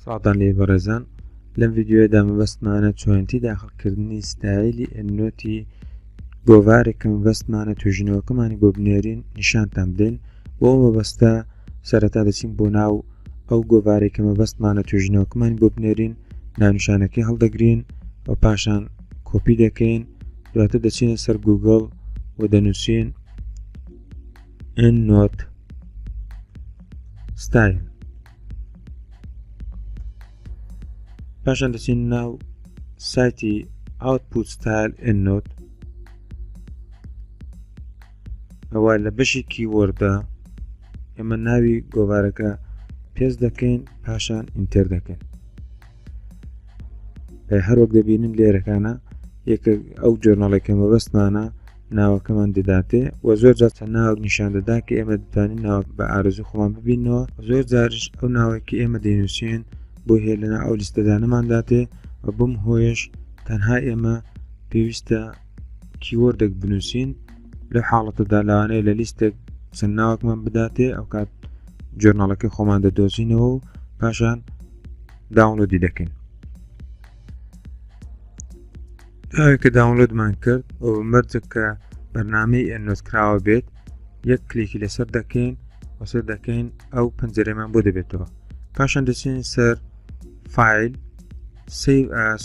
ساڵتان لێ بەڕێزان لەم ڤیددیوەدا مەبەستمانە چۆنتی داخڵکردنی ستایلی ئەنۆتی گۆڤارێکم بەستمانە توژینەوەکەمانی بۆ بنێرین نیشانتان بدەین بۆ مەبەستە سەرەتا دەچین بۆ ناو ئەو گۆڤارێکە مەبەستمانە توژینەوەکەمان بۆ بنێرین نانوشانەکەی هەڵدەگرین و پاشان کۆپی دەکەین دواتر دەچینە سەر گوگڵ و دەنووسین EndNote Style پاشان دەچین ناو سایتی Output Style EndNote ئەوە لە بەشی کیوەردە ئێمە ناوی گۆوارەکە پێست دەکەین پاشان ئینتەر دەکەین هەروەک دەبینن لێرەکانە یەکە ئەو جۆرناڵی کە مەبەستمانە ناوەکەمان دەداتێ و زۆر جار چەند ناوەک نیشان دەدا کە ئێمە دەتوانین ناوە بە ئارزو خۆمان ببینەوە زۆر جارش ئەو ناوەکی ئێمە دەینووسێن بۆ هێ لەنا ئەو لیستەدانەمانداتێ و بم هۆیش تەنها ئێمە پێویستە کیوەردێک بنوسین لەو حاڵەتەدا لەوانەیە لە لیستێک چەند ناوەکمان بداتێ ئەو کات جۆرناڵەکەی خۆمان دەدۆزینەوە و پاشان داونلۆدی دەکەین کە داونلۆدمان کرد ئەو مەرجە کە بەرنمەی ئەنۆز کراوە بێت یەک کلێکی لەسەر دەکەین وەسەر دەکەین ئەو پەنجەرەمان بۆ دەبێتەوە پاشان دەچین سەر فیل سیڤ ئاس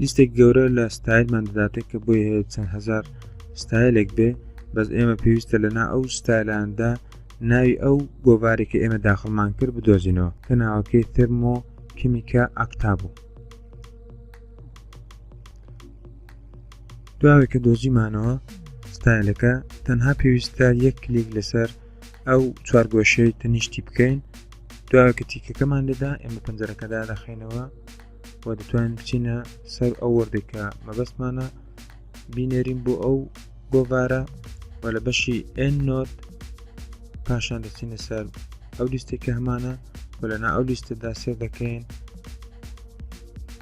لیستێک گەورە لە ستایلمان دەداتێت کە بۆی هەیە چەند هەزار ستایلێک بێت بەس ئێمە پێویستە لەنا ئەو ستایلاندا ناوی ئەو گۆڤارێکە ئێمە داخڵمان کرد بدۆزینەوە کە ناوەکەی ترمۆ کیمیکە ئەکتا بوو دواوێک کە دۆزیمانەوە ستایلەکە تەنها پێویستە یەک کلیک لەسەر ئەو چوارگۆشەی تەنیشتی بکەین دواکە تیکەکەمان لێدا ئێمە پەنجەرەکەدا دەخینەوە و دەتوانین بچینە سەر ئەو وەردێکە مەبەستمانە بینێرین بۆ ئەو گۆڤارە و لە بەشی ئەن نۆت پاشان دەچینە سەر ئەو لیستێکە هەمانە و لەنا ئەو لیستەدا سێ دەکەین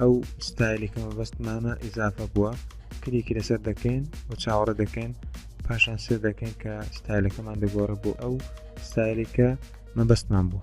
ئەو ستایلێکە مەبەستمانە ئیزافە بووە کلیکی لەسەر دەکەین و چاوەڕە دەکەین پاشان سێ دەکەین کە ستایلەکەمان دەگۆڕە بۆ ئەو ستایلێکە مەبەستمان بوو